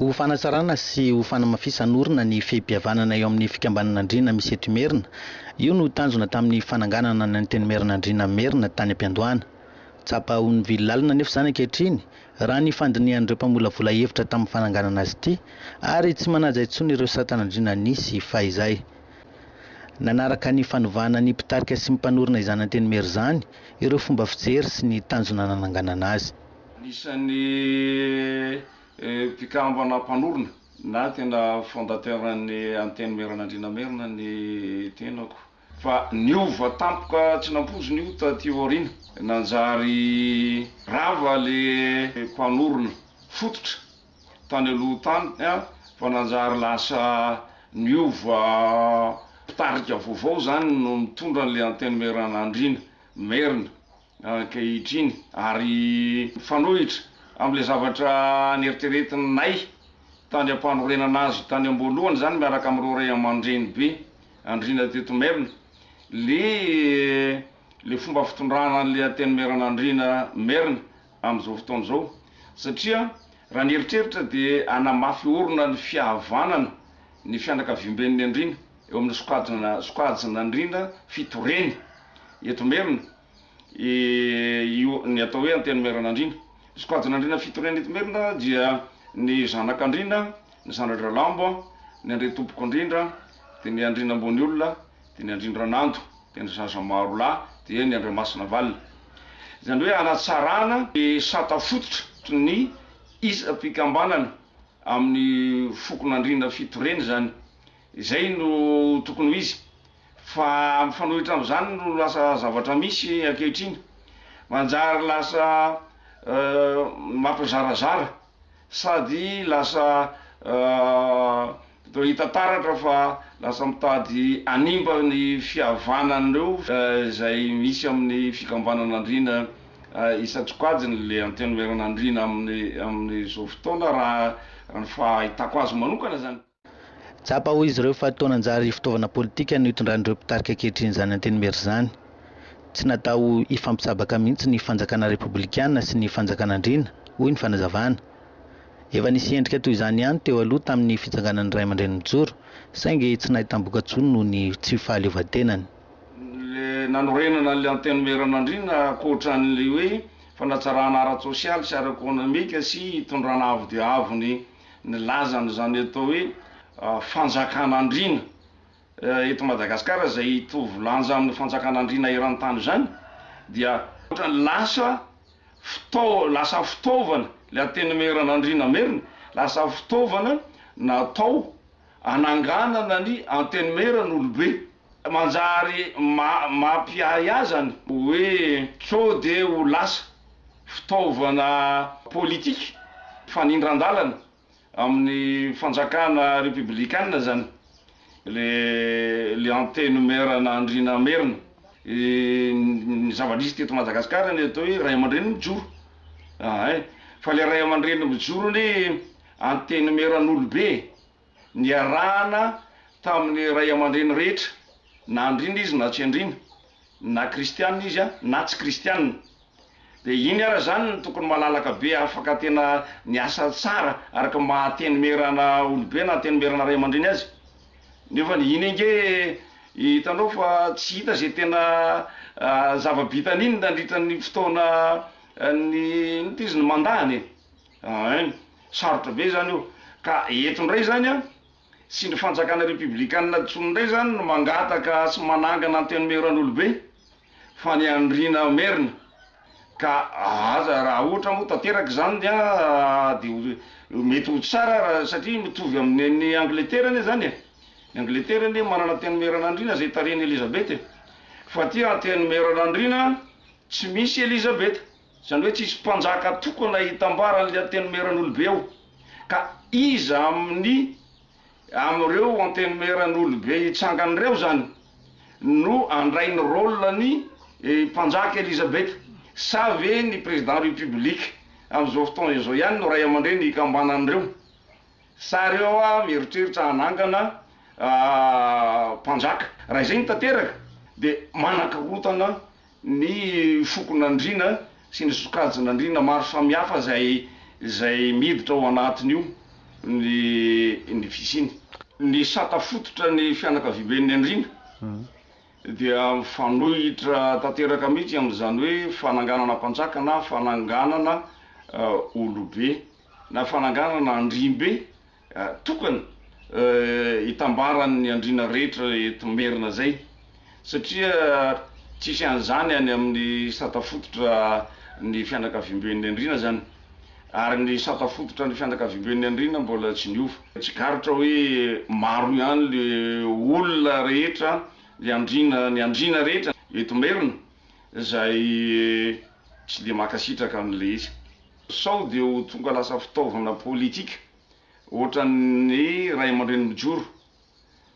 Ho fanatsarana sy ho fanamafisan'orina ny fehi-pihavanana eo amin'ny Fikambanan'Andriana misy eto Imerina, io no tanjona tamin'ny fananganana ny Antenimierinandriana Merina tany am-piandohana. Tsapa ho nivily lalina anefa izany ankehitriny, raha ny fandinihan'ireo mpamolavola hevitra tamin'ny fananganana azy ity, ary tsy manaja intsony ireo satan'Andriana nisy fahizay. Nanaraka ny fanovana ny mpitarika sy ny mpanorina izany Antenimiera izany, ireo fomba fijery sy ny tanjona nananganana azy. Anisan'ny mpikambana mpanorina na tena fondateur-n'ny Antenimiera an'Andriana Merina ny tenako. Fa niova tampoka tsy nampoizina io taty aoriana. Nanjary rava le mpanorina fototra tany aloha tany fa nanjary lasa niova mpitarika vaovao izany no nitondra an'ilay Antenimieranandriana Merina ankehitriny ary mifanohitra amin'ilay zavatra neritreretinay tany am-panorenana azy tany am-boalohany izany miaraka amin'ireo ray aman-dreny be andriana teto Merina ilay ilay fomba fitondrana an'ilay Antenimieranandriana Merina amin'izao fotoana izao satria raha ny eritreritra dia hanamafy orina ny fihavanana ny fianakaviamben'ny andriana eo amin'ny sokajina sokajin'andriana fito reny eto merina i io ny atao hoe antenimieran'andriana ny sokajin'andriana fito reny eto merina dia ny zanak'andriana ny zanadralambo ny andriantompokoindrindra dia ny andriana ambony olona dia ny Andrindranando, dia ny Zazamarolahy, dia ny Andriamasinavalona. Izany hoe hanatsarana ny sata fototra try ny isam-pikambanana amin'ny fokon'Andriana fito reny izany. Izay no tokony ho izy. Fa mifanohitra amin'izany no lasa zavatra misy ankehitriny. Manjary lasa mampizarazara. Sady lasa toa hita taratra fa lasa mitady hanimba ny fihavanan'ireo izay misy amin'ny fikambanan'Andriana isan-tsokajiny ilay Antenimieran'Andriana amin'izao fotoana raha ny fahitako azy manokana izany. Tsapa hoy izy ireo fa toa nanjary fitaovana politika no itondran'ireo mpitarika ankehitriny izany Antenimiera izany. Tsy natao hifampitsabaka mihitsy ny fanjakana repoblikana sy ny fanjakana andriana, hoy ny fanazavana. Efa nisy endrika toy izany ihany teo aloha tamin'ny fitsanganan'ny ray aman-dreny mijoro, saingy tsy nahitam-boka-tsoa noho ny tsy fahaleovantenany. Ny nanorenana an'ilay Antenimieranandriana ankoatra an'ilay hoe fanatsarana ara-tsosialy sy ara-ekonomika sy hitondrana avo dia avo ny nilaza an'izany atao hoe fanjakan'andriana eto Madagasikara izay hitovy lanja amin'ny fanjakan'andriana eran-tany izany dia ohatran'ny lasa fitao lasa fitaovana ilay antenimieran'andriana merina lasa fitaovana natao Ananganana ny Antenimieran' olobe. Manjary mampiahy aza ny hoe co dia ho lasa fitaovana politika fanindran-dalana amin' ny fanjakana repiblikana izany ilay Antenimieran' Andrianamerina. Ny zava-nisy teto Madagasikara ny atao hoe ray aman-dreny mijoro. Ahay. Fa ilay ray aman-dreny mijoro anie Antenimieran'Olobe, niarahana tamin'ny ray aman-dreny rehetra, na andriana izy na tsy andriana, na kristiana izy na tsy kristiana. Dia iny ary izany no tokony malalaka be, afaka tena niasa tsara araka ny maha Antenimierana Olobe na Antenimierana ray aman-dreny azy. Nefany iny ange hitanao fa tsy hita izay tena zava-bitany iny nandritra ny fotoana ny, inona ity izy, ny mandany e. Aen. Sarotra be izany io. Ka eto indray izany an, tsy ny fanjakana repiblikanina intsony indray izany no mangataka sy manangana antenimieran'olobe, fa ny andriana merina. Ka aza raha ohatra moa tanteraka izany ny an, dia ho, mety ho tsara raha, satria mitovy amin'ny an'i Angletera anie izany e. Ny Angletera anie manana antenimieran'andriana izay tarihin'i Elizabeta e. Fa aty antenimieran'andriana tsy misy Elizabeta. Izany hoe tsy hisy mpanjaka tokana hitambara an'ilay Antenimieran'olobe ao. Ka iza amin'ny amin'ireo Antenimieran'olobe hitsangana ireo izany no handray ny rôle-n'ny Mpanjaka Elizabeta? Sa ve ny Président République amin'izao fotoana izao ihany no raiamandreny hikambanan'ireo? Sa ireo hoa mieritreritra hanangana Mpanjaka? Raha izay no tanteraka dia manakorotana ny fokon'andriana sy ny sokajin'andriana maro samihafa izay izay miditra ao anatin'io ny ny fisiany. Ny sata fototra ny fianakaviamben'ny andriana dia mifanohitra tanteraka mihitsy amin'izany hoe fananganana mpanjaka na fananganana olobe na fananganana andriambe Tokony hitambaran'ny andriana rehetra eto Merina izay satria tsisy an'izany any amin'ny sata fototra ny fianakaviamben'ny andriana izany ary ny sata fototra ny fianakaviamben'ny andriana mbola tsy niova. Tsikaritra hoe maro ihany le olona rehetra le andriana ny andriana rehetra eto Merina izay tsy dia mankasitraka an'ilay izy. Sao dia ho tonga lasa fitaovana politika ohatran'ny ray aman-dreny mijoro.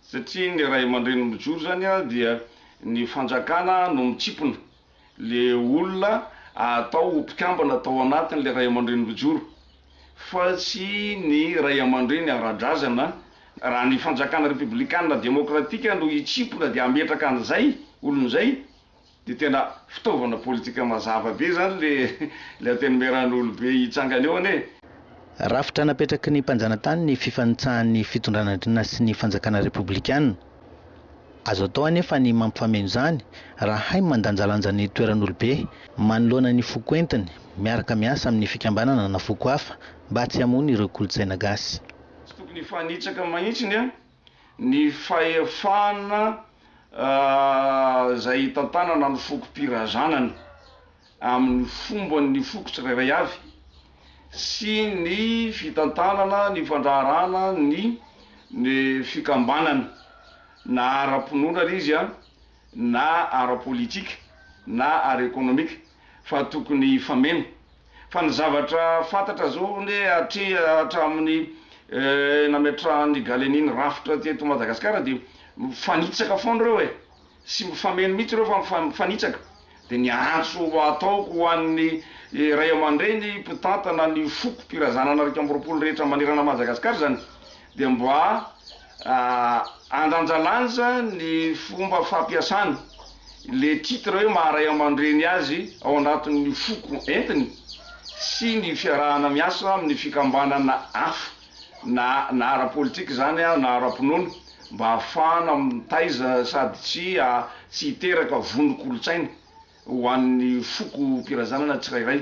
Satria ny ray aman-dreny mijoro izany dia ny fanjakana no mitsimpona ilay olona atao ho mpikambana tao anatin'ilay ray aman-dreny mijoro fa tsy ny ray aman-dreny ara-drazana. Raha ny fanjakana repiblikana demokratika no hitsimpona dia hametraka an'izay olona izay, Dia tena fitaovana politika mazava be izany le le antenimieran'olobe hitsangana eo anie. Rafitra napetraky ny mpanjanatany ny fifanintsahan'ny fitondran'Andriana sy ny fanjakana repoblikana. Azo atao anefa ny mampifameno izany raha hay mandanjalanja ny toeran'olobe manoloana ny foko entiny miaraka miasa amin'ny fikambanana na foko hafa mba tsy hamono ireo kolontsaina gasy. Tsy tokony hifanitsaka mahitsy ny. ny fahefana izay hitantanana ny fokom-pirazanany amin'ny fomban'ny foko tsirairay avy sy ny fitantanana ny fandraharahana ny fikambanana na ara-pinoana ilay izy na ara-politika na ara-ekonomika. fa tokony hifameno fa ny zavatra fantatra zao anie hatri hatramin'ny nametrahan'ny galenie ny rafitra aty eto Madagasikara de mifanitsaka foana reo e! tsy mifameno mihitsy reo fa mifanitsaka de ny antso ataoko ho an'ny ray aman-dreny mpitantana ny foko mpirazana anarika amby roapolo rehetra manerana Madagasikara zany dia mba handanjalanja ny fomba fampiasany ilay titre hoe maha ray aman-dreny azy ao anatin'ny foko entiny sy ny fiarahana miasa amin'ny fikambanana hafa na na ara-politika izany na ara-pinoana mba hahafahana mitaiza sady tsy tsy hiteraka vono kolontsaina ho an'ny foko mpirazanana tsirairay.